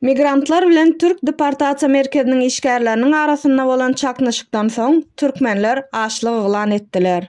Migrantlar bilen türk deportasiýa merkeziniň işgärleriniň arasynda bolan çaknyşykdan soň türkmenler açlyk yglan etdiler.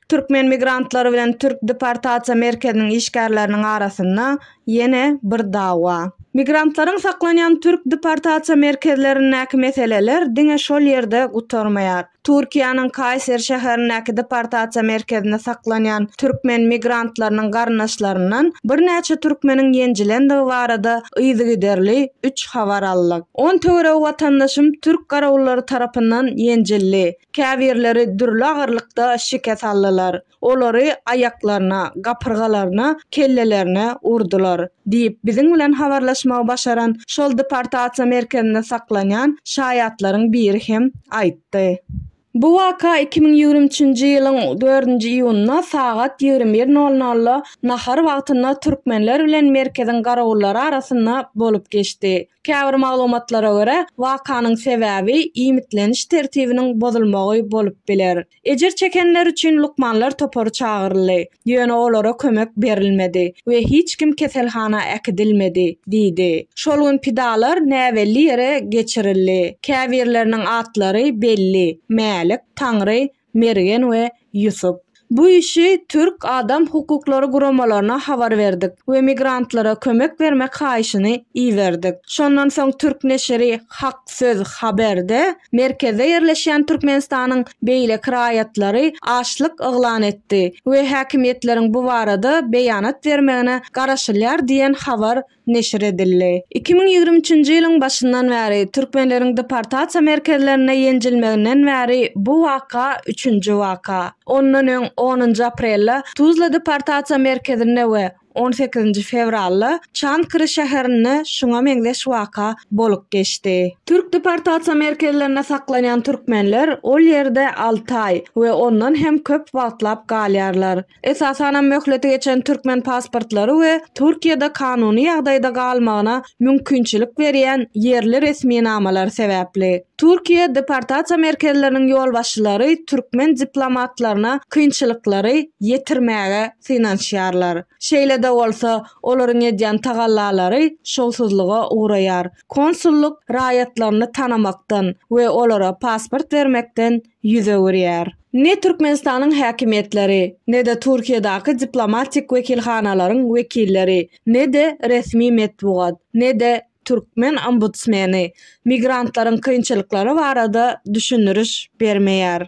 Türkmen migrantlary bilen türk deportasiýa merkeziniň işgärleriniň arasynda ýene bir dawa. Migrantlaryň saklanýan türk deportasiýa merkezlerindäki meseleler diňe şol ýerde gutarmaýar. Türkiýäniň Kaýser şäherindäki deportasiýa merkezinde saklanýan türkmen migrantlarynyň garyndaşlaryndan birnäçe türkmeniň ýenjilendigi barada yzygiderli üç habar aldyk. On töweregi watandaşym türk garawullary tarapyndan ýenjildi, käbirleri dürli agyrlykda şikes aldylar. Olary aýaklaryna, gapyrgalaryna, kellelerine urdular, diýip, biziň bilen habarlaşmagy başaran şol deportasiýa merkezinde saklanýan şaýatlaryň biri hem aýtdy. Bu waka iki müň ýigrimi üçünji ýylyň dördünji iýunynda sagat ýigrimi bir nol nolda nahar wagtynda türkmenler bilen merkeziň garawullary arasynda bolup geçdi. Käbir maglumatlara görä, wakanyň sebäbi iýmitleniş tertibiniň bozulmagy bolup biler. Ejir çekenler üçin lukmanlar topary çagyryldy, ýöne olara kömek berilmedi we hiç kim keselhana äkidilmedi diýdi. Şol gün pidalar näbelli ýere geçirildi. Käbirleriniň atlary belli, Mälik, Taňry, Mergen we Ýusup. Bu işi türk adam hukuklary guramalaryna habar berdik we migrantlara kömek bermek haýyşyny iberdik. Şondan soň türk neşiri Hak! Söz haberde merkezde ýerleşýän Türkmenistanyň beýleki raýatlary açlyk yglan etdi we häkimiýetleriň bu barada beýanat bermegine garaşylýar diýen habar neşir edildi. Iki müň ýigrimi üçünji ýylyň başyndan bäri türkmenleriň deportasiýa merkezlerinde ýenjilmeginden bäri bu waka üçünji waka. Ondan öň onunjy aprelde Tuzla deportasiýa merkezinde we On sekizinji fewralda Çankry şäherinde şuňa meňzeş waka bolup geçdi. Türk deportasiýa merkezlerinde saklanýan türkmenler ol ýerde alty aý we ondan hem köp wagtlap galýarlar. Esasanam möhleti geçen türkmen pasportlary we Türkiýede kanuny ýagdaýda galmagyna mümkinçilik berýän ýerli resminamalar sebäpli. Türkiýe deportasiýa merkezleriniň ýolbaşçylary türkmen diplomatlaryna kynçylyklary ýetirmäge synanyşýarlar. Şeýle-de bolsa, olaryň edýän tagallalary şowsuzlyga ugraýar. Konsullyk raýatlaryny tanamakdan we olara pasport bermekden ýüz öwürýär. Ne Türkmenistanyň häkimiýetleri, ne-de Türkiýedaky diplomatik wekilhanalaryň wekilleri, ne-de resmi metbugat, ne-de türkmen ombudsmeni migrantlaryň kynçylyklary barada düşündiriş bermeýär.